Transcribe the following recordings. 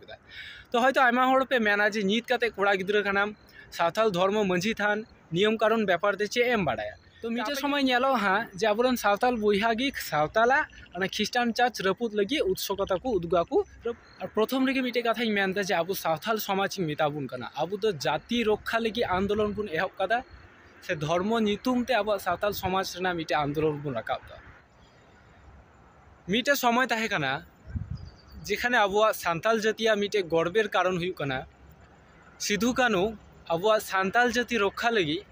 ᱠᱮᱫᱟ ᱛᱚ ᱦᱚᱭᱛᱳ ᱟᱭᱢᱟ ᱦᱚᱲ ᱯᱮ ᱢᱮᱱᱟ ᱡᱮ ᱱᱤᱛ ᱠᱟᱛᱮ ᱠᱚᱲᱟ ᱜᱤᱫᱽᱨᱟᱹ ᱠᱟᱱᱟᱢ ᱥᱟᱶᱛᱟᱞ ᱫᱷᱚᱨᱢᱚ ᱢᱟᱹᱡᱷᱤ ᱛᱷᱟᱱ ᱱᱤᱭᱚᱢ ᱠᱟᱨᱚᱱ ᱵᱮᱯᱟᱨ ᱛᱮ ᱪᱮᱫ ᱮᱢ ᱵᱟᱲᱟᱭᱟ ᱛᱚ ᱢᱤᱫᱴᱮᱱ ᱥᱚᱢᱚᱭ ᱧᱮᱞᱚᱜᱼᱟ ᱦᱟᱸᱜ ᱡᱮ ᱟᱵᱚᱨᱮᱱ ᱥᱟᱶᱛᱟᱞ ᱵᱚᱭᱦᱟ ᱜᱮ ᱥᱟᱶᱛᱟᱞᱟᱜ ᱚᱱᱟ ᱠᱷᱨᱤᱥᱴᱟᱱ ᱪᱟᱨᱪ ᱨᱟᱹᱯᱩᱫ ᱞᱟᱹᱜᱤᱫ ᱩᱫᱥᱚᱠᱚᱛᱟ ᱠᱚ ᱩᱫᱩᱜᱟ ᱠᱚ ᱟᱨ ᱯᱨᱚᱛᱷᱚᱢ ᱨᱮᱜᱮ ᱢᱤᱫᱴᱮᱱ ᱠᱟᱛᱷᱟᱧ ᱢᱮᱱᱫᱟ ᱡᱮ ᱟᱵᱚ ᱥᱟᱶᱛᱟᱞ ᱥᱚᱢᱟᱡᱽ ᱤᱧ ᱢᱮᱛᱟ ᱵᱚᱱ ᱠᱟᱱᱟ ᱟᱵᱚ ᱫᱚ ᱡᱟᱹᱛᱤ ᱨᱚᱠᱠᱷᱟ ᱞᱟᱹᱜᱤᱫ ᱟᱱᱫᱳᱞᱚᱱ ᱵᱚᱱ ᱮᱦᱚᱵ ᱠᱟᱫᱟ ᱥᱮ ᱫᱷᱚᱨᱢᱚ ᱧᱩᱛᱩᱢ ᱛᱮ ᱟᱵᱚᱣᱟᱜ ᱥᱟᱶᱛᱟᱞ ᱥᱚᱢᱟᱡᱽ ᱨᱮᱱᱟᱜ ᱢᱤᱫᱴᱮᱱ ᱟᱱᱫᱳᱞᱚᱱ ᱵᱚᱱ ᱨᱟᱠᱟᱵ ᱫᱟ ᱢᱤᱫᱴᱮᱱ ᱥᱚᱢᱚᱭ ᱛᱟᱦᱮᱸ ᱠᱟᱱᱟ ᱡᱮᱠᱷᱟᱱᱮ ᱟᱵᱚᱣᱟᱜ ᱥᱟᱱᱛᱟᱞ ᱡᱟᱹᱛᱤᱭᱟᱜ ᱢᱤᱫᱴᱮᱱ ᱜᱚᱨᱵᱮᱨ ᱠᱟᱨᱚᱱ ᱦᱩᱭᱩᱜ ᱠᱟᱱᱟ ᱥᱤᱫᱷᱩ ᱠᱟᱹᱱᱩ ᱟᱵᱚᱣᱟᱜ ᱥᱟᱱᱛᱟᱞ ᱡᱟᱹᱛᱤ ᱨᱚᱠᱠᱷᱟ ᱞᱟᱹᱜᱤᱫ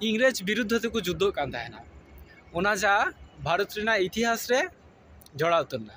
ᱤᱝᱨᱮᱡᱽ ᱵᱤᱨᱩᱫᱽᱫᱷᱚ ᱛᱮᱠᱚ ᱡᱩᱫᱽᱫᱷᱚᱜ ᱠᱟᱱ ᱛᱟᱦᱮᱱᱟ ᱚᱱᱟ ᱡᱟ ᱵᱷᱟᱨᱚᱛ ᱨᱮᱱᱟᱜ ᱤᱛᱤᱦᱟᱥ ᱨᱮ ᱡᱚᱲᱟᱣ ᱩᱛᱟᱹᱨ ᱮᱱᱟ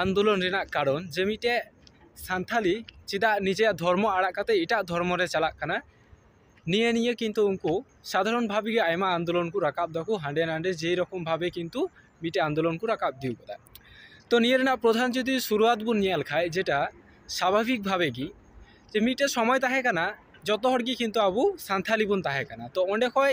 ᱟᱱᱫᱳᱞᱚᱱ ᱨᱮᱱᱟᱜ ᱠᱟᱨᱚᱱ ᱡᱮ ᱢᱤᱫᱴᱮᱡ ᱥᱟᱱᱛᱟᱲᱤ ᱪᱮᱫᱟᱜ ᱱᱤᱡᱮᱨᱟᱜ ᱫᱷᱚᱨᱢᱚ ᱟᱲᱟᱜ ᱠᱟᱛᱮ ᱮᱴᱟᱜ ᱫᱷᱚᱨᱢᱚ ᱨᱮ ᱪᱟᱞᱟᱜ ᱠᱟᱱᱟ ᱱᱤᱭᱟᱹ ᱱᱤᱭᱮ ᱠᱤᱱᱛᱩ ᱩᱱᱠᱩ ᱥᱟᱫᱷᱟᱨᱚᱱ ᱵᱷᱟᱵᱽ ᱜᱮ ᱟᱭᱢᱟ ᱟᱱᱫᱳᱞᱚᱱ ᱠᱚ ᱨᱟᱠᱟᱵ ᱫᱟᱠᱚ ᱦᱟᱸᱰᱮ ᱱᱟᱰᱮ ᱡᱮ ᱨᱚᱠᱚᱢ ᱵᱷᱟᱵᱮ ᱠᱤᱱᱛᱩ ᱢᱤᱫᱴᱮᱡ ᱟᱱᱫᱳᱞᱚᱱ ᱠᱚ ᱨᱟᱠᱟᱵ ᱤᱫᱤ ᱠᱟᱫᱟ ᱛᱚ ᱱᱤᱭᱟᱹ ᱨᱮᱱᱟᱜ ᱯᱨᱚᱫᱷᱟᱱ ᱡᱩᱫᱤ ᱥᱩᱨᱩᱣᱟᱛ ᱵᱚᱱ ᱧᱮᱞ ᱠᱷᱟᱡ ᱡᱮᱴᱟ ᱥᱟᱵᱷᱟᱵᱤᱠ ᱵᱷᱟᱵᱮ ᱜᱮ ᱡᱮ ᱢᱤᱫᱴᱮᱡ ᱥᱚᱢᱚᱭ ᱛᱟᱦᱮᱸ ᱠᱟᱱᱟ ᱡᱚᱛᱚ ᱦᱚᱲ ᱜᱮ ᱠᱤᱱᱛᱩ ᱟᱵᱚ ᱥᱟᱱᱛᱟᱲᱤ ᱵᱚᱱ ᱛᱟᱦᱮᱸ ᱠᱟᱱᱟ ᱛᱚ ᱚᱸᱰᱮ ᱠᱷᱚᱡ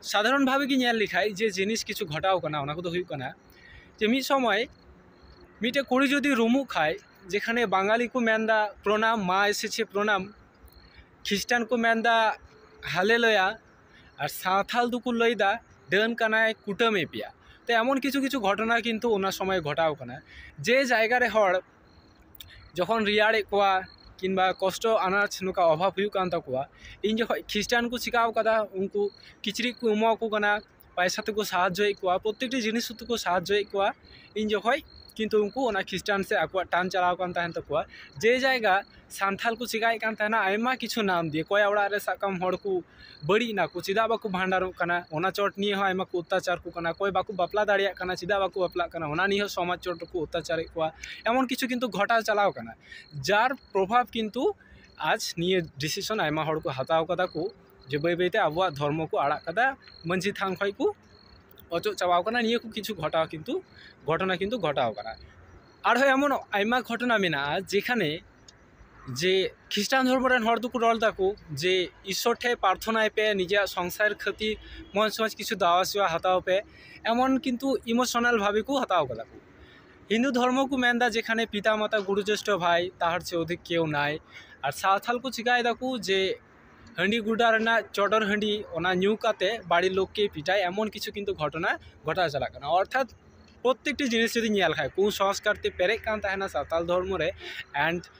ᱥᱟᱫᱷᱟᱨᱚᱱ ᱵᱷᱟᱵᱮ ᱜᱮ ᱧᱮᱞ ᱞᱮᱠᱷᱟᱡ ᱡᱮ ᱡᱤᱱᱤᱥ ᱠᱤᱪᱷᱩ ᱜᱷᱚᱴᱟᱣ ᱠᱟᱱᱟ ᱚᱱᱟ ᱠᱚᱫᱚ ᱦᱩᱭᱩᱜ ᱠᱟᱱᱟ ᱡᱮ ᱢᱤᱫ ᱥᱚᱢᱚᱭ ᱢᱤᱫᱴᱮᱡ ᱠᱩᱲᱤ ᱡᱩᱫᱤ ᱨᱩᱢᱩᱜ ᱠᱷᱟᱡ ᱡᱮᱠᱷᱟᱱᱮ ᱵᱟᱝᱜᱟᱞᱤ ᱠᱚ ᱢᱮᱱᱫᱟ ᱯᱨᱚᱱᱟᱢ ᱢᱟ ᱮᱥᱮᱪᱷᱮ ᱯᱨᱚᱱᱟᱢ ᱠᱷᱤᱥᱴᱟᱱ ᱠᱚ ᱢᱮᱱᱫᱟ ᱦᱟᱞᱮ ᱞᱚᱭᱟ ᱟᱨ ᱥᱟᱶᱛᱟᱞ ᱫᱚᱠᱚ ᱞᱟᱹᱭᱫᱟ ᱰᱟᱹᱱ ᱠᱟᱱᱟᱭ ᱠᱩᱴᱟᱹᱢᱮ ᱯᱮᱭᱟ ᱛᱚ ᱮᱢᱚᱱ ᱠᱤᱪᱷᱩ ᱠᱤᱪᱷᱩ ᱜᱷᱚᱴᱚᱱᱟ ᱠᱤᱱᱛᱩ ᱚᱱᱟ ᱥᱚᱢᱚᱭ ᱜᱷᱚᱴᱟᱣ ᱠᱟᱱᱟ ᱡᱮ ᱡᱟᱭᱜᱟ ᱨᱮ ᱦᱚᱲ ᱡᱚᱠᱷᱚᱱ ᱨᱮᱭᱟᱲᱮᱫ ᱠᱚᱣᱟ ᱠᱤᱢᱵᱟ ᱠᱚᱥᱴᱚ ᱟᱱᱟᱡᱽ ᱱᱚᱝᱠᱟ ᱚᱵᱷᱟᱵᱽ ᱦᱩᱭᱩᱜ ᱠᱟᱱ ᱛᱟᱠᱚᱣᱟ ᱤᱧ ᱡᱚᱠᱷᱚᱱ ᱠᱷᱤᱥᱴᱟᱱ ᱠᱚ ᱪᱤᱠᱟᱹᱣ ᱠᱟᱫᱟ ᱩᱱᱠᱩ ᱠᱤᱪᱨᱤᱡ ᱠᱚ ᱮᱢᱟ ᱠᱚ ᱠᱟᱱᱟ ᱯᱚᱭᱥᱟ ᱛᱮᱠᱚ ᱥᱟᱦᱟᱡᱽᱡᱚᱭᱮᱫ ᱠᱚᱣᱟ ᱯᱨᱚᱛᱮᱠᱴᱤ ᱡᱤᱱᱤᱥ ᱠᱚᱛᱮ ᱠᱚ ᱥᱟᱦᱟᱡᱽᱡᱚᱭᱮᱫ ᱠᱚᱣᱟ ᱤᱧ ᱡᱚᱠᱷᱚᱱ ᱠᱤᱱᱛᱩ ᱩᱱᱠᱩ ᱚᱱᱟ ᱠᱷᱤᱥᱴᱟᱱ ᱥᱮᱫ ᱟᱠᱚᱣᱟᱜ ᱴᱟᱱ ᱪᱟᱞᱟᱣ ᱟᱠᱟᱱ ᱛᱟᱦᱮᱱ ᱛᱟᱠᱚᱣᱟ ᱡᱮ ᱡᱟᱭᱜᱟ ᱥᱟᱱᱛᱟᱲ ᱠᱚ ᱪᱤᱠᱟᱹᱭᱮᱫ ᱠᱟᱱ ᱛᱟᱦᱮᱱᱟ ᱟᱭᱢᱟ ᱠᱤᱪᱷᱩ ᱱᱟᱢ ᱫᱤᱭᱮ ᱚᱠᱚᱭᱟᱜ ᱚᱲᱟᱜ ᱨᱮ ᱥᱟᱵ ᱠᱟᱜ ᱢᱮ ᱦᱚᱲ ᱠᱚ ᱵᱟᱹᱲᱤᱡ ᱮᱱᱟ ᱠᱚ ᱪᱮᱫᱟᱜ ᱵᱟᱠᱚ ᱵᱷᱟᱱᱰᱟᱨᱚᱜ ᱠᱟᱱᱟ ᱚᱱᱟ ᱪᱚᱴ ᱱᱤᱭᱮ ᱦᱚᱸ ᱟᱭᱢᱟ ᱠᱚ ᱚᱛᱛᱟᱪᱟᱨ ᱟᱠᱚ ᱠᱟᱱᱟ ᱚᱠᱚᱭ ᱵᱟᱠᱚ ᱵᱟᱯᱞᱟ ᱫᱟᱲᱮᱭᱟᱜ ᱠᱟᱱᱟ ᱪᱮᱫᱟᱜ ᱵᱟᱠᱚ ᱵᱟᱯᱞᱟᱜ ᱠᱟᱱᱟ ᱚᱱᱟ ᱱᱤᱭᱮ ᱦᱚᱸ ᱥᱚᱢᱟᱡᱽ ᱪᱚᱴ ᱨᱮᱠᱚ ᱚᱛᱛᱟᱪᱟᱨᱮᱫ ᱠᱚᱣᱟ ᱮᱢᱚᱱ ᱠᱤᱪᱷᱩ ᱠᱤᱱᱛᱩ ᱜᱷᱚᱴᱟᱣ ᱪᱟᱞᱟᱣ ᱠᱟᱱᱟ ᱡᱟᱨ ᱯᱨᱚᱵᱷᱟᱵᱽ ᱠᱤᱱᱛᱩ ᱟᱡᱽ ᱱᱤᱭᱟᱹ ᱰᱤᱥᱤᱥᱚᱱ ᱟᱭᱢᱟ ᱦᱚᱲ ᱠᱚ ᱦᱟᱛᱟᱣ ᱠᱟᱫᱟ ᱠᱚ ᱡᱮ ᱵᱟᱹᱭ ᱵᱟᱹᱭ ᱛᱮ ᱟᱵᱚᱣᱟᱜ ᱫᱷᱚᱨᱢᱚ ᱠᱚ ᱟᱲᱟᱜ ᱠᱟᱫᱟ ᱢᱟᱹᱡᱷᱤ ᱛᱷᱟᱱ ᱠᱷᱚᱡ ᱠᱚ ᱚᱪᱚᱜ ᱪᱟᱵᱟᱣ ᱠᱟᱱᱟ ᱱᱤᱭᱟᱹ ᱠᱚ ᱠᱤᱪᱷᱩ ᱜᱷᱚᱴᱟᱣ ᱠᱤᱱᱛᱩ ᱜᱷᱚᱴᱚᱱᱟ ᱠᱤᱱᱛᱩ ᱜᱷᱚᱴᱟᱣ ᱠᱟᱱᱟ ᱟᱨᱦᱚᱸ ᱮᱢᱚᱱ ᱟᱭᱢᱟ ᱜᱷᱚᱴᱚᱱᱟ ᱢᱮᱱᱟᱜᱼᱟ ᱡᱮᱠᱷᱟᱱᱮ ᱡᱮ ᱠᱷᱤᱥᱴᱟᱱ ᱫᱷᱚᱨᱢᱚ ᱨᱮᱱ ᱦᱚᱲ ᱫᱚᱠᱚ ᱨᱚᱲ ᱫᱟᱠᱚ ᱡᱮ ᱤᱥᱥᱚᱨ ᱴᱷᱮᱱ ᱯᱟᱨᱛᱷᱚᱱᱟᱭ ᱯᱮ ᱱᱤᱡᱮᱨᱟᱜ ᱥᱚᱝᱥᱟᱨ ᱠᱷᱟᱹᱛᱤᱨ ᱢᱚᱡᱽ ᱢᱚᱡᱽ ᱠᱤᱪᱷᱩ ᱫᱟᱣᱟ ᱥᱮᱵᱟ ᱦᱟᱛᱟᱣ ᱯᱮ ᱮᱢᱚᱱ ᱠᱤᱱᱛᱩ ᱤᱢᱳᱥᱚᱱᱟᱞ ᱵᱷᱟᱵᱮ ᱠᱚ ᱦᱟᱛᱟᱣ ᱠᱟᱫᱟ ᱠᱚ ᱦᱤᱱᱫᱩ ᱫᱷᱚᱨᱢᱚ ᱠᱚ ᱢᱮᱱᱫᱟ ᱡᱮᱠᱷᱟᱱᱮ ᱯᱤᱛᱟ ᱢᱟᱛᱟ ᱜᱩᱨᱩ ᱡᱳᱥᱴᱷᱚ ᱵᱷᱟᱭ ᱛᱟᱦᱟᱨ ᱪᱮ ᱚᱫᱷᱤᱠ ᱠᱮᱣ ᱱᱟᱭ ᱟᱨ ᱥᱟᱶᱛᱟᱞ ᱠᱚ ᱪᱤᱠᱟᱭ ᱫᱟᱠᱚ ᱡᱮ ᱦᱟᱺᱰᱤ ᱜᱚᱰᱟ ᱨᱮᱱᱟᱜ ᱪᱚᱰᱚᱨ ᱦᱟᱺᱰᱤ ᱚᱱᱟ ᱧᱩ ᱠᱟᱛᱮ ᱵᱟᱹᱲᱤᱡ ᱞᱳᱠ ᱠᱮ ᱯᱤᱴᱟᱭ ᱮᱢᱚᱱ ᱠᱤᱪᱷᱩ ᱠᱤᱱᱛᱩ ᱜᱷᱚᱴᱚᱱᱟ ᱜᱷᱚᱴᱟᱣ ᱪᱟᱞᱟᱜ ᱠᱟᱱᱟ ᱚᱨᱛᱷᱟᱛ ᱯᱨᱚᱛᱮᱠᱴᱤ ᱡᱤᱱᱤᱥ ᱡᱩᱫᱤ ᱧᱮᱞ ᱠᱷᱟᱡ ᱠᱩᱥᱚᱝᱥᱠᱟᱨ ᱛᱮ ᱯᱮᱨᱮᱡ ᱠᱟᱱ ᱛᱟᱦᱮᱱᱟ ᱥᱟᱱᱛᱟᱲ ᱫᱷᱚᱨᱢᱚ ᱨᱮ ᱮᱱᱰ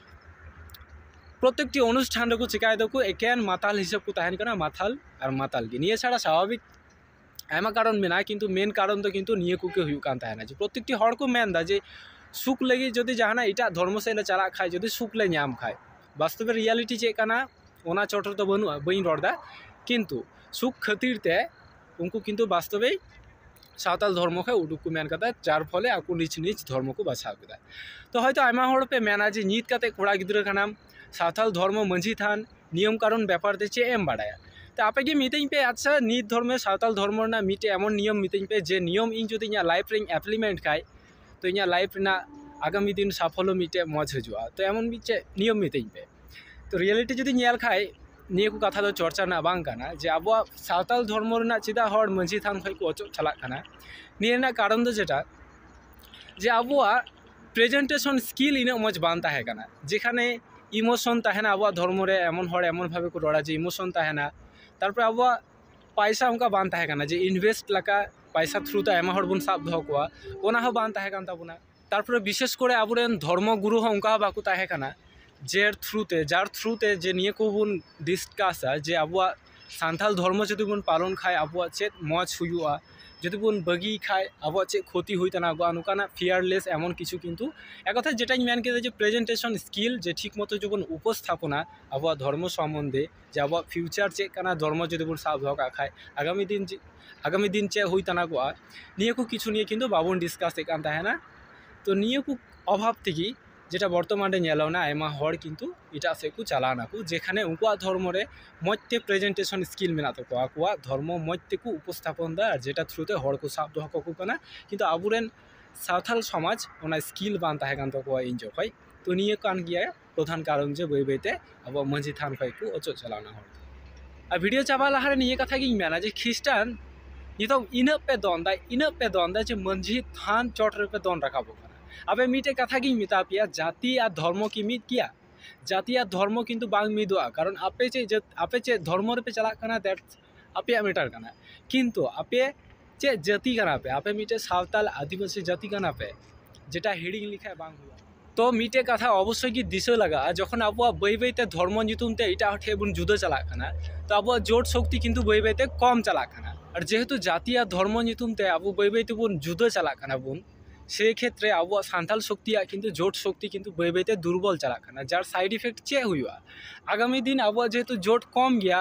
ᱯᱨᱚᱛᱮᱠᱴᱤ ᱚᱱᱩᱥᱴᱷᱟᱱ ᱨᱮᱠᱚ ᱪᱤᱠᱟᱭ ᱫᱟᱠᱚ ᱮᱠᱮᱱ ᱢᱟᱛᱟᱞ ᱦᱤᱥᱟᱹᱵ ᱠᱚ ᱛᱟᱦᱮᱱ ᱠᱟᱱᱟ ᱢᱟᱛᱟᱞ ᱟᱨ ᱢᱟᱛᱟᱞ ᱜᱮ ᱱᱤᱭᱟᱹ ᱪᱷᱟᱲᱟ ᱥᱟᱵᱷᱟᱵᱤᱠ ᱟᱭᱢᱟ ᱠᱟᱨᱚᱱ ᱢᱮᱱᱟᱜᱼᱟ ᱠᱤᱱᱛᱩ ᱢᱮᱱ ᱠᱟᱨᱚᱱ ᱫᱚ ᱠᱤᱱᱛᱩ ᱱᱤᱭᱟᱹ ᱠᱚᱜᱮ ᱦᱩᱭᱩᱜ ᱠᱟᱱ ᱛᱟᱦᱮᱱᱟ ᱡᱮ ᱯᱨᱚᱛᱮᱠᱴᱤ ᱦᱚᱲ ᱠᱚ ᱢᱮᱱᱫᱟ ᱡᱮ ᱥᱩᱠ ᱞᱟᱹᱜᱤᱫ ᱡᱩᱫᱤ ᱡᱟᱦᱟᱱᱟᱜ ᱮᱴᱟᱜ ᱫᱷᱚᱨᱢᱚ ᱥᱮᱫ ᱞᱮ ᱪᱟᱞᱟᱜ ᱠᱷᱟᱡ ᱡᱩᱫᱤ ᱥᱩᱠ ᱞᱮ ᱧᱟᱢ ᱠᱷᱟᱡ ᱵᱟᱥᱛᱚᱵ ᱨᱮ ᱨᱤᱭᱮᱞᱤᱴᱤ ᱪᱮᱫ ᱠᱟᱱᱟ ᱚᱱᱟ ᱪᱚᱴ ᱨᱮᱫᱚ ᱵᱟᱹᱱᱩᱜᱼᱟ ᱵᱟᱹᱧ ᱨᱚᱲᱫᱟ ᱠᱤᱱᱛᱩ ᱥᱩᱠ ᱠᱷᱟᱹᱛᱤᱨ ᱛᱮ ᱩᱱᱠᱩ ᱠᱤᱱᱛᱩ ᱵᱟᱥᱛᱚᱵᱮ ᱥᱟᱶᱛᱟᱞ ᱫᱷᱚᱨᱢᱚ ᱠᱷᱚᱡ ᱩᱰᱩᱠ ᱠᱚ ᱢᱮᱱ ᱠᱟᱫᱟ ᱡᱟᱨ ᱯᱷᱚᱞᱮ ᱟᱠᱚ ᱱᱤᱡᱽ ᱱᱤᱡᱽ ᱫᱷᱚᱨᱢᱚ ᱠᱚ ᱵᱟᱪᱷᱟᱣ ᱠᱮᱫᱟ ᱛᱚ ᱦᱚᱭᱛᱳ ᱟᱭᱢᱟ ᱦᱚᱲ ᱯᱮ ᱢᱮᱱᱟ ᱡᱮ ᱱᱤᱛ ᱠᱟᱛᱮᱫ ᱠᱚᱲᱟ ᱜᱤᱫᱽᱨᱟᱹ ᱠᱟᱱᱟᱢ ᱥᱟᱶᱛᱟᱞ ᱫᱷᱚᱨᱢᱚ ᱢᱟᱹᱡᱷᱤ ᱛᱷᱟᱱ ᱱᱤᱭᱚᱢ ᱠᱟᱹᱱᱩᱱ ᱵᱮᱯᱟᱨ ᱛᱮ ᱪᱮᱫ ᱮᱢ ᱵᱟᱲᱟᱭᱟ ᱛᱚ ᱟᱯᱮ ᱜᱮ ᱢᱤᱛᱟᱹᱧ ᱯᱮ ᱟᱪᱪᱷᱟ ᱱᱤᱛ ᱫᱷᱚᱨᱢᱮ ᱥᱟᱶᱛᱟᱞ ᱫᱷᱚᱨᱢᱚ ᱨᱮᱱᱟᱜ ᱢᱤᱫᱴᱮᱱ ᱮᱢᱚᱱ ᱱᱤᱭᱚᱢ ᱢᱤᱛᱟᱹᱧ ᱯᱮ ᱡᱮ ᱱᱤᱭᱚᱢ ᱤᱧ ᱡᱩᱫᱤ ᱤᱧᱟᱹᱜ ᱞᱟᱭᱤᱯᱷ ᱨᱮᱧ ᱮᱯᱞᱤᱢᱮᱱᱴ ᱠᱷᱟᱱ ᱛᱚ ᱤᱧᱟᱹᱜ ᱞᱟᱭᱤᱯᱷ ᱨᱮᱱᱟᱜ ᱟᱜᱟᱢᱤ ᱫᱤᱱ ᱥᱟᱯᱷᱚᱞᱞᱚ ᱢᱤᱫᱴᱮᱱ ᱢᱚᱡᱽ ᱦᱤᱡᱩᱜᱼᱟ ᱛᱚ ᱮᱢᱚᱱ ᱢᱤᱫ ᱪᱮᱫ ᱱᱤᱭᱚᱢ ᱢᱤᱛᱟᱹᱧ ᱯᱮ ᱛᱚ ᱨᱤᱭᱮᱞᱤᱴᱤ ᱡᱩᱫᱤᱧ ᱧᱮᱞ ᱠᱷᱟᱱ ᱱᱤᱭᱟᱹ ᱠᱚ ᱠᱟᱛᱷᱟ ᱫᱚ ᱪᱚᱨᱪᱟ ᱨᱮᱱᱟᱜ ᱵᱟᱝ ᱠᱟᱱᱟ ᱡᱮ ᱟᱵᱚᱣᱟᱜ ᱥᱟᱶᱛᱟᱞ ᱫᱷᱚᱨᱢᱚ ᱨᱮᱱᱟᱜ ᱪᱮᱫᱟᱜ ᱦᱚᱲ ᱢᱟᱹᱡᱷᱤ ᱛᱷᱟᱱ ᱠᱷᱚᱱ ᱠᱚ ᱚᱪᱚᱜ ᱪᱟᱞᱟᱜ ᱠᱟᱱᱟ ᱱᱤᱭᱟᱹ ᱨᱮᱱᱟᱜ ᱠᱟᱨᱚᱱ ᱫᱚ ᱡᱮᱴᱟ ᱡᱮ ᱟᱵᱚᱣᱟᱜ ᱯᱨᱮᱡᱮᱱᱴᱮᱥᱚᱱ ᱥᱠᱤᱞ ᱤᱱᱟᱹᱜ ᱢᱚᱡᱽ ᱵᱟᱝ ᱛᱟᱦᱮᱸ ᱠᱟᱱᱟ ᱡᱮᱠᱷᱟᱱᱮ ᱤᱢᱳᱥᱚᱱ ᱛᱟᱦᱮᱱᱟ ᱟᱵᱚᱣᱟᱜ ᱫᱷᱚᱨᱢᱚ ᱨᱮ ᱮᱢᱚᱱ ᱦᱚᱲ ᱮᱢᱚᱱ ᱵᱷᱟᱵᱮ ᱠᱚ ᱨᱚᱲᱟ ᱡᱮ ᱤᱢᱳᱥᱚᱱ ᱛᱟᱦᱮᱱᱟ ᱛᱟᱨᱯᱚᱨᱮ ᱟᱵᱚᱣᱟᱜ ᱯᱚᱭᱥᱟ ᱚᱱᱠᱟ ᱵᱟᱝ ᱛᱟᱦᱮᱸ ᱠᱟᱱᱟ ᱡᱮ ᱤᱱᱵᱷᱮᱥᱴ ᱞᱮᱠᱟ ᱯᱚᱭᱥᱟ ᱛᱷᱨᱩ ᱛᱮ ᱟᱭᱢᱟ ᱦᱚᱲ ᱵᱚᱱ ᱥᱟᱵ ᱫᱚᱦᱚ ᱠᱚᱣᱟ ᱚᱱᱟ ᱦᱚᱸ ᱵᱟᱝ ᱛᱟᱦᱮᱸ ᱠᱟᱱ ᱛᱟᱵᱚᱱᱟ ᱛᱟᱨᱯᱚᱨᱮ ᱵᱤᱥᱮᱥ ᱠᱚᱨᱮ ᱟᱵᱚ ᱨᱮᱱ ᱫᱷᱚᱨᱢᱚ ᱜᱩᱨᱩ ᱦᱚᱸ ᱚᱱᱠᱟ ᱦᱚᱸ ᱵᱟᱠᱚ ᱛᱟᱦᱮᱸ ᱠᱟᱱᱟ ᱡᱮ ᱛᱷᱨᱩ ᱛᱮ ᱡᱟᱨ ᱛᱷᱨᱩ ᱛᱮ ᱡᱮ ᱱᱤᱭᱟᱹ ᱠᱚᱵᱚᱱ ᱰᱤᱥᱠᱟᱥᱟ ᱡᱮ ᱟᱵᱚᱣᱟᱜ ᱥᱟᱱᱛᱟᱲ ᱫᱷᱚᱨᱢᱚ ᱡᱩᱫᱤ ᱵᱚᱱ ᱯᱟᱞᱚᱱ ᱠᱷᱟᱱ ᱟᱵᱚᱣᱟᱜ ᱪᱮᱫ ᱢᱚᱡᱽ ᱦᱩᱭᱩᱜᱼᱟ ᱡᱩᱫᱤ ᱵᱚᱱ ᱵᱟᱹᱜᱤᱭ ᱠᱷᱟᱱ ᱟᱵᱚᱣᱟᱜ ᱪᱮᱫ ᱠᱷᱚᱛᱤ ᱦᱩᱭ ᱫᱟᱲᱮᱭᱟᱜᱼᱟ ᱱᱚᱝᱠᱟᱱᱟᱜ ᱯᱷᱤᱭᱟᱨᱞᱮᱥ ᱮᱢᱚᱱ ᱠᱤᱪᱷᱩ ᱠᱤᱱᱛᱩ ᱮᱠ ᱠᱟᱛᱷᱟᱭ ᱡᱮᱴᱟᱧ ᱢᱮᱱ ᱠᱮᱫᱟ ᱡᱮ ᱯᱨᱮᱡᱮᱱᱴᱮᱥᱚᱱ ᱥᱠᱤᱞ ᱡᱮ ᱴᱷᱤᱠ ᱢᱚᱛᱚ ᱡᱮᱵᱚᱱ ᱩᱯᱚᱥᱛᱷᱟᱯᱚᱱᱟ ᱟᱵᱚᱣᱟᱜ ᱫᱷᱚᱨᱢᱚ ᱥᱚᱢᱚᱱᱫᱷᱮ ᱡᱮ ᱟᱵᱚᱣᱟᱜ ᱯᱷᱤᱭᱩᱪᱟᱨ ᱪᱮᱫ ᱠᱟᱱᱟ ᱫᱷᱚᱨᱢᱚ ᱡᱩᱫᱤ ᱵᱚᱱ ᱥᱟᱵ ᱫᱚᱦᱚ ᱠᱟᱜ ᱠᱷᱟᱱ ᱟᱜᱟᱢᱤ ᱫᱤᱱ ᱪᱮᱫ ᱟᱜᱟᱢᱤ ᱫᱤᱱ ᱪᱮᱫ ᱦᱩᱭ ᱛᱟᱱᱟᱜᱚᱜᱼᱟ ᱱᱤᱭᱟᱹ ᱠᱚ ᱠᱤᱪᱷᱩ ᱱᱤᱭᱮ ᱠᱤᱱᱛᱩ ᱵᱟᱵᱚᱱ ᱰᱤᱥᱠᱟᱥᱮᱫ ᱠᱟᱱ ᱛᱟᱦᱮᱱᱟ ᱛᱳ ᱱᱤᱭᱟᱹ ᱠᱚ ᱚᱵᱷᱟᱵᱽ ᱛᱮᱜᱮ ᱡᱮᱴᱟ ᱵᱚᱨᱛᱚᱢᱟᱱ ᱨᱮ ᱧᱮᱞᱚᱜ ᱠᱟᱱᱟ ᱟᱭᱢᱟ ᱦᱚᱲ ᱠᱤᱱᱛᱩ ᱮᱴᱟᱜ ᱥᱮᱫ ᱠᱚ ᱪᱟᱞᱟᱣ ᱱᱟᱠᱚ ᱡᱮᱠᱷᱟᱱᱮ ᱩᱱᱠᱩᱣᱟᱜ ᱫᱷᱚᱨᱢᱚ ᱨᱮ ᱢᱚᱡᱽ ᱛᱮ ᱯᱨᱮᱡᱮᱱᱴᱮᱥᱚᱱ ᱥᱠᱤᱞ ᱢᱮᱱᱟᱜ ᱛᱟᱠᱚᱣᱟ ᱟᱠᱚᱣᱟᱜ ᱫᱷᱚᱨᱢᱚ ᱢᱚᱡᱽ ᱛᱮᱠᱚ ᱩᱯᱚᱥᱛᱷᱟᱯᱚᱱ ᱫᱟ ᱡᱮᱴᱟ ᱛᱷᱨᱩ ᱛᱮ ᱦᱚᱲ ᱠᱚ ᱥᱟᱵ ᱫᱚᱦᱚ ᱠᱟᱠᱚ ᱠᱟᱱᱟ ᱠᱤᱱᱛᱩ ᱟᱵᱚ ᱨᱮᱱ ᱥᱟᱶᱛᱟᱞ ᱥᱚᱢᱟᱡᱽ ᱚᱱᱟ ᱥᱠᱤᱞ ᱵᱟᱝ ᱛᱟᱦᱮᱸ ᱠᱟᱱ ᱛᱟᱠᱚᱣᱟ ᱤᱧ ᱡᱚᱠᱷᱚᱡ ᱛᱚ ᱱᱤᱭᱟᱹ ᱠᱟᱱ ᱜᱮᱭᱟ ᱯᱨᱚᱫᱷᱟᱱ ᱠᱟᱨᱚᱱ ᱡᱮ ᱵᱟᱹᱭ ᱵᱟᱹᱭ ᱛᱮ ᱟᱵᱚᱣᱟᱜ ᱢᱟᱹᱡᱷᱤ ᱛᱷᱟᱱ ᱠᱷᱚᱡ ᱠᱚ ᱚᱪᱚᱜ ᱪᱟᱞᱟᱣᱱᱟ ᱦᱚᱲ ᱫᱚ ᱟᱨ ᱵᱷᱤᱰᱤᱭᱳ ᱪᱟᱵᱟᱜ ᱞᱟᱦᱟᱨᱮ ᱱᱤᱭᱟᱹ ᱠᱟᱛᱷᱟ ᱜᱤᱧ ᱢᱮᱱᱟ ᱡᱮ ᱠᱷᱤᱥᱴᱟᱱ ᱱᱤᱛᱚᱜ ᱤᱱᱟᱹᱜ ᱯᱮ ᱫᱚᱱᱫᱟ ᱤᱱᱟᱹᱜ ᱯᱮ ᱫᱚᱱᱫᱟ ᱡᱮ ᱢᱟᱹᱡᱷᱤ ᱛᱷᱟᱱ ᱪᱚᱴ ᱨᱮᱯᱮ ᱫᱚᱱ ᱨᱟᱠᱟᱵᱚᱜ ᱠᱟᱱᱟ ᱟᱯᱮ ᱢᱤᱫᱴᱮᱡ ᱠᱟᱛᱷᱟ ᱜᱤᱧ ᱢᱮᱛᱟ ᱯᱮᱭᱟ ᱡᱟᱹᱛᱤ ᱟᱨ ᱫᱷᱚᱨᱢᱚ ᱠᱤ ᱢᱤᱫ ᱜᱮᱭᱟ ᱡᱟᱹᱛᱤ ᱟᱨ ᱫᱷᱚᱨᱢᱚ ᱠᱤᱱᱛᱩ ᱵᱟᱝ ᱢᱤᱫᱚᱜᱼᱟ ᱠᱟᱨᱚᱱ ᱟᱯᱮ ᱪᱮᱫ ᱟᱯᱮ ᱪᱮᱫ ᱫᱷᱚᱨᱢᱚ ᱨᱮᱯᱮ ᱪᱟᱞᱟᱜ ᱠᱟᱱᱟ ᱫᱮᱴ ᱟᱯᱮᱭᱟᱜ ᱢᱮᱴᱟᱨ ᱠᱟᱱᱟ ᱠᱤᱱᱛᱩ ᱟᱯᱮ ᱪᱮᱫ ᱡᱟᱹᱛᱤ ᱠᱟᱱᱟ ᱯᱮ ᱟᱯᱮ ᱢᱤᱫᱴᱮᱱ ᱥᱟᱶᱛᱟᱞ ᱟᱹᱫᱤᱵᱟᱹᱥᱤ ᱡᱟᱹᱛᱤ ᱠᱟᱱᱟ ᱯᱮ ᱡᱮᱴᱟ ᱦᱤᱲᱤᱧ ᱞᱮᱠᱷᱟᱱ ᱵᱟᱝ ᱦᱩᱭᱩᱜᱼᱟ ᱛᱚ ᱢᱤᱫᱴᱮᱱ ᱠᱟᱛᱷᱟ ᱚᱵᱚᱥᱥᱳᱭ ᱜᱮ ᱫᱤᱥᱟᱹ ᱞᱟᱜᱟᱜᱼᱟ ᱡᱚᱠᱷᱚᱱ ᱟᱵᱚᱣᱟᱜ ᱵᱟᱹᱭ ᱵᱟᱹᱭ ᱛᱮ ᱫᱷᱚᱨᱢᱚ ᱧᱩᱛᱩᱢ ᱛᱮ ᱮᱴᱟᱜ ᱦᱚᱲ ᱴᱷᱮᱱ ᱵᱚᱱ ᱡᱩᱫᱟᱹ ᱪᱟᱞᱟᱜ ᱠᱟᱱᱟ ᱛᱚ ᱟᱵᱚᱣᱟᱜ ᱡᱳᱴ ᱥᱚᱠᱛᱤ ᱠᱤᱱᱛᱩ ᱵᱟᱹᱭ ᱵᱟᱹᱭ ᱛᱮ ᱠᱚᱢ ᱪᱟᱞᱟᱜ ᱠᱟᱱᱟ ᱟᱨ ᱡᱮᱦᱮᱛᱩ ᱡᱟᱹᱛᱤ ᱟᱨ ᱫᱷᱚᱨᱢᱚ ᱧᱩᱛᱩᱢ ᱛᱮ ᱟᱵᱚ ᱵᱟᱹᱭ ᱵᱟᱹᱭ ᱛᱮᱵᱚᱱ ᱡᱩᱫᱟᱹ ᱪᱟᱞᱟᱜ ᱠᱟᱱᱟ ᱵᱚᱱ ᱥᱮᱭ ᱠᱷᱮᱛᱨᱮ ᱟᱵᱚᱣᱟᱜ ᱥᱟᱱᱛᱟᱞ ᱥᱚᱠᱛᱤᱭᱟᱜ ᱠᱤᱱᱛᱩ ᱡᱳᱴ ᱥᱚᱠᱛᱤ ᱠᱤᱱᱛᱩ ᱵᱟᱹᱭ ᱵᱟᱹᱭ ᱛᱮ ᱫᱩᱨᱵᱚᱞ ᱪᱟᱞᱟᱜ ᱠᱟᱱᱟ ᱡᱟᱨ ᱥᱟᱭᱤᱰ ᱤᱯᱷᱮᱠᱴ ᱪᱮᱫ ᱦᱩᱭᱩᱜᱼᱟ ᱟᱜᱟᱢᱤ ᱫᱤᱱ ᱟᱵᱚᱣᱟᱜ ᱡᱮᱦᱮᱛᱩ ᱡᱳᱴ ᱠᱚᱢ ᱜᱮᱭᱟ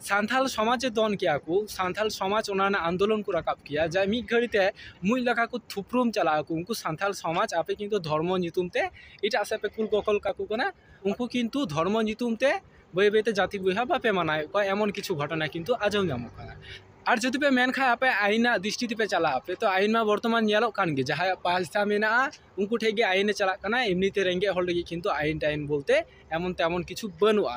ᱥᱟᱱᱛᱟᱲ ᱥᱚᱢᱟᱡᱽ ᱮ ᱫᱚᱱ ᱠᱮᱭᱟ ᱠᱚ ᱥᱟᱱᱛᱟᱲ ᱥᱚᱢᱟᱡᱽ ᱚᱱᱟ ᱨᱮᱱᱟᱜ ᱟᱱᱫᱳᱞᱚᱱ ᱠᱚ ᱨᱟᱠᱟᱵ ᱠᱮᱭᱟ ᱡᱟ ᱢᱤᱫ ᱜᱷᱟᱹᱲᱤ ᱛᱮ ᱢᱩᱡ ᱞᱮᱠᱟ ᱠᱚ ᱛᱷᱩᱯᱨᱩᱢ ᱪᱟᱞᱟᱜ ᱟᱠᱚ ᱩᱱᱠᱩ ᱥᱟᱱᱛᱟᱲ ᱥᱚᱢᱟᱡᱽ ᱟᱯᱮ ᱠᱤᱱᱛᱩ ᱫᱷᱚᱨᱢᱚ ᱧᱩᱛᱩᱢ ᱛᱮ ᱮᱴᱟᱜ ᱥᱮᱫ ᱯᱮ ᱠᱩᱞ ᱠᱚᱠᱚᱞ ᱠᱟᱠᱚ ᱠᱟᱱᱟ ᱩᱱᱠᱩ ᱠᱤᱱᱛᱩ ᱫᱷᱚᱨᱢᱚ ᱧᱩᱛᱩᱢ ᱛᱮ ᱵᱟᱹᱭ ᱵᱟᱹᱭ ᱛᱮ ᱡᱟᱹᱛᱤ ᱵᱚᱭᱦᱟ ᱵᱟᱯᱮ ᱢᱟᱱᱟᱣᱮᱫ ᱠᱚᱣᱟ ᱮᱢᱚᱱ ᱠᱤᱪᱷᱩ ᱜᱷᱚᱴᱚᱱᱟ ᱠᱤᱱᱛᱩ ᱟᱸᱡᱚᱢ ᱧᱟᱢᱚᱜ ᱠᱟᱱᱟ ᱟᱨ ᱡᱩᱫᱤ ᱯᱮ ᱢᱮᱱ ᱠᱷᱟᱱ ᱟᱯᱮ ᱟᱹᱭᱤᱱ ᱨᱮᱱᱟᱜ ᱫᱨᱤᱥᱴᱤ ᱛᱮᱯᱮ ᱪᱟᱞᱟᱜ ᱟᱯᱮ ᱛᱚ ᱟᱹᱭᱤᱱ ᱢᱟ ᱵᱚᱨᱛᱚᱢᱟᱱ ᱧᱮᱞᱚᱜ ᱠᱟᱱ ᱜᱮ ᱡᱟᱦᱟᱸᱭᱟᱜ ᱯᱚᱭᱥᱟ ᱢᱮᱱᱟᱜᱼᱟ ᱩᱱᱠᱩ ᱴᱷᱮᱱ ᱜᱮ ᱟᱹᱭᱤᱱᱮ ᱪᱟᱞᱟᱜ ᱠᱟᱱᱟ ᱮᱢᱱᱤ ᱛᱮ ᱨᱮᱸᱜᱮᱡ ᱦᱚᱲ ᱞᱟᱹᱜᱤᱫ ᱠᱤᱱᱛᱩ ᱟᱹᱭᱤᱱ ᱴᱟᱹᱭᱤᱱ ᱵᱚᱞᱛᱮ ᱮᱢᱚᱱ ᱛᱮᱢᱚᱱ ᱠᱤᱪᱷᱩ ᱵᱟᱹᱱᱩᱜᱼᱟ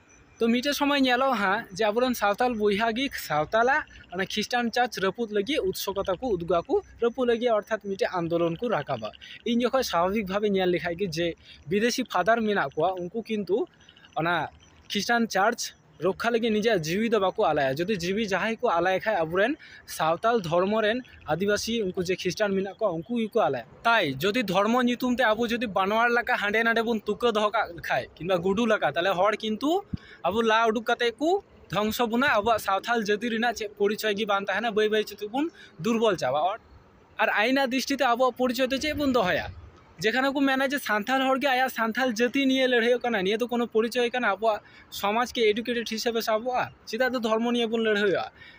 ᱛᱚ ᱢᱤᱫᱴᱮᱱ ᱥᱚᱢᱚᱭ ᱧᱮᱞᱚᱜᱼᱟ ᱦᱟᱸᱜ ᱡᱮ ᱟᱵᱚ ᱨᱮᱱ ᱥᱟᱶᱛᱟᱞ ᱵᱚᱭᱦᱟ ᱜᱮ ᱥᱟᱶᱛᱟᱞᱟᱜ ᱚᱱᱟ ᱠᱷᱤᱥᱴᱟᱱ ᱪᱟᱨᱪ ᱨᱟᱹᱯᱩᱫ ᱞᱟᱹᱜᱤᱫ ᱩᱫᱥᱩᱠᱚᱛᱟ ᱠᱚ ᱩᱫᱩᱜᱟ ᱠᱚ ᱨᱟᱹᱯᱩᱫ ᱞᱟᱹᱜᱤᱫ ᱚᱨᱛᱷᱟᱛ ᱢᱤᱫᱴᱮᱱ ᱟᱱᱫᱳᱞᱚᱱ ᱠᱚ ᱨᱟᱠᱟᱵᱟ ᱤᱧ ᱡᱚᱠᱷᱚᱱ ᱥᱟᱵᱷᱟᱵᱤᱠ ᱵᱷᱟᱵᱮ ᱧᱮᱞ ᱞᱮᱠᱷᱟᱱ ᱜᱮ ᱡᱮ ᱵᱤᱫᱮᱥᱤ ᱯᱷᱟᱫᱟᱨ ᱢᱮᱱᱟᱜ ᱠᱚᱣᱟ ᱩᱱᱠᱩ ᱠᱤᱱᱛᱩ ᱚᱱᱟ ᱠᱷᱤᱥᱴᱟᱱ ᱪᱟᱨᱪ ᱨᱚᱠᱠᱷᱟ ᱞᱟᱹᱜᱤᱫ ᱱᱤᱡᱮᱨᱟᱜ ᱡᱤᱣᱤ ᱫᱚ ᱵᱟᱠᱚ ᱟᱞᱟᱭᱟ ᱡᱩᱫᱤ ᱡᱤᱣᱤ ᱡᱟᱦᱟᱸᱭ ᱠᱚ ᱟᱞᱟᱭ ᱠᱷᱟᱱ ᱟᱵᱚ ᱨᱮᱱ ᱥᱟᱶᱛᱟᱞ ᱫᱷᱚᱨᱢᱚ ᱨᱮᱱ ᱟᱹᱫᱤᱵᱟᱹᱥᱤ ᱩᱱᱠᱩ ᱡᱮ ᱠᱷᱤᱥᱴᱟᱱ ᱢᱮᱱᱟᱜ ᱠᱚᱣᱟ ᱩᱱᱠᱩ ᱜᱮᱠᱚ ᱟᱞᱟᱭᱟ ᱛᱟᱭ ᱡᱩᱫᱤ ᱫᱷᱚᱨᱢᱚ ᱧᱩᱛᱩᱢ ᱛᱮ ᱟᱵᱚ ᱡᱩᱫᱤ ᱵᱟᱱᱣᱟᱨ ᱞᱮᱠᱟ ᱦᱟᱸᱰᱮ ᱱᱟᱰᱮ ᱵᱚᱱ ᱛᱩᱠᱟᱹ ᱫᱚᱦᱚ ᱠᱟᱜ ᱠᱷᱟᱡ ᱠᱤᱢᱵᱟ ᱜᱩᱰᱩ ᱞᱮᱠᱟ ᱛᱟᱦᱚᱞᱮ ᱦᱚᱲ ᱠᱤᱱᱛᱩ ᱟᱵᱚ ᱞᱟ ᱩᱰᱩᱠ ᱠᱟᱛᱮ ᱠᱚ ᱫᱷᱚᱝᱥᱚ ᱵᱚᱱᱟ ᱟᱵᱚᱣᱟᱜ ᱥᱟᱶᱛᱟᱞ ᱡᱟᱹᱛᱤ ᱨᱮᱱᱟᱜ ᱪᱮᱫ ᱯᱚᱨᱤᱪᱚᱭ ᱜᱮ ᱵᱟᱝ ᱛᱟᱦᱮᱱᱟ ᱵᱟᱹᱭ ᱵᱟᱹᱭ ᱛᱮ ᱵᱚᱱ ᱫᱩᱨᱵᱚᱞ ᱪᱟᱵᱟᱜᱼᱟ ᱟᱨ ᱟᱭᱢᱟ ᱫᱨᱤᱥᱴᱤ ᱛᱮ ᱟᱵᱚᱣᱟᱜ ᱯᱚᱨᱤᱪᱚᱭ ᱫᱚ ᱪᱮᱫ ᱵᱚᱱ ᱫᱚᱦᱚᱭᱟ ᱡᱮᱠᱷᱟᱱᱮ ᱠᱚ ᱢᱮᱱᱟ ᱡᱮ ᱥᱟᱱᱛᱟᱲ ᱦᱚᱲ ᱜᱮ ᱟᱭᱟᱜ ᱥᱟᱱᱛᱟᱲ ᱡᱟᱹᱛᱤ ᱱᱤᱭᱮ ᱞᱟᱹᱲᱦᱟᱹᱭᱚᱜ ᱠᱟᱱᱟ ᱱᱤᱭᱟᱹ ᱫᱚ ᱠᱳᱱᱳ ᱯᱚᱨᱤᱪᱚᱭ ᱠᱟᱱᱟ ᱟᱵᱚᱣᱟᱜ ᱥᱚᱢᱟᱡᱽ ᱠᱤ ᱮᱰᱩᱠᱮᱴᱮᱰ ᱦᱤᱥᱟᱹᱵᱮ ᱥᱟᱵᱚᱜᱼᱟ ᱪᱮᱫᱟᱜ ᱫᱚ ᱫᱷᱚᱨᱢᱚ ᱱᱤᱭᱮ ᱵᱚᱱ ᱞᱟᱹᱲᱦᱟᱹᱭᱚᱜᱼᱟ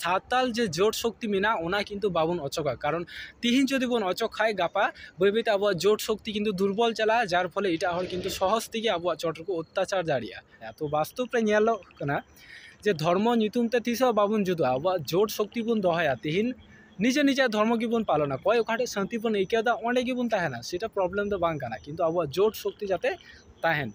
ᱥᱟᱶᱛᱟᱞ ᱡᱮ ᱡᱳᱴ ᱥᱚᱠᱛᱤ ᱢᱮᱱᱟᱜᱼᱟ ᱚᱱᱟ ᱠᱤᱱᱛᱩ ᱵᱟᱵᱚᱱ ᱚᱪᱚᱜᱟ ᱠᱟᱨᱚᱱ ᱛᱤᱦᱤᱧ ᱡᱩᱫᱤ ᱵᱚᱱ ᱚᱪᱚᱜᱽ ᱠᱷᱟᱡ ᱜᱟᱯᱟ ᱵᱟᱹᱭ ᱵᱟᱹᱭ ᱛᱮ ᱟᱵᱚᱣᱟᱜ ᱡᱳᱴ ᱥᱚᱠᱛᱤ ᱠᱤᱱᱛᱩ ᱫᱩᱨᱵᱚᱞ ᱪᱟᱞᱟᱜᱼᱟ ᱡᱟᱨ ᱯᱷᱚᱞᱮ ᱮᱴᱟᱜ ᱦᱚᱲ ᱠᱤᱱᱛᱩ ᱥᱚᱦᱚᱡᱽ ᱛᱮᱜᱮ ᱟᱵᱚᱣᱟᱜ ᱪᱚᱴ ᱨᱮᱠᱚ ᱚᱛᱛᱟᱪᱟᱨ ᱫᱟᱲᱮᱭᱟᱜᱼᱟ ᱛᱚ ᱵᱟᱥᱛᱚᱵ ᱨᱮ ᱧᱮᱞᱚᱜ ᱠᱟᱱᱟ ᱡᱮ ᱫᱷᱚᱨᱢᱚ ᱧᱩᱛᱩᱢ ᱛᱮ ᱛᱤᱥ ᱦᱚᱸ ᱵᱟᱵᱚᱱ ᱡᱩᱫᱩᱜᱼᱟ ᱟᱵᱚᱣᱟᱜ ᱡᱳᱴ ᱥᱚᱠᱛᱤ ᱵᱚᱱ ᱫᱚᱦᱚᱭᱟ ᱛᱤᱦᱤᱧ ᱱᱤᱡᱮ ᱱᱤᱡᱮᱨᱟᱜ ᱫᱷᱚᱨᱢᱚ ᱜᱮᱵᱚᱱ ᱯᱟᱞᱚᱱᱟ ᱚᱠᱚᱭ ᱚᱠᱟ ᱴᱷᱮᱡ ᱥᱟᱹᱱᱛᱤ ᱵᱚᱱ ᱟᱹᱭᱠᱟᱹᱣᱫᱟ ᱚᱸᱰᱮ ᱜᱮᱵᱚᱱ ᱛᱟᱦᱮᱱᱟ ᱥᱮᱴᱟ ᱯᱨᱚᱵᱞᱮᱢ ᱫᱚ ᱵᱟᱝ ᱠᱟᱱᱟ ᱠᱤᱱᱛᱩ ᱟᱵᱚᱣᱟᱜ ᱡᱳᱴ ᱥᱚᱠᱛᱤ ᱡᱟᱛᱮ ᱛᱟᱦᱮᱱ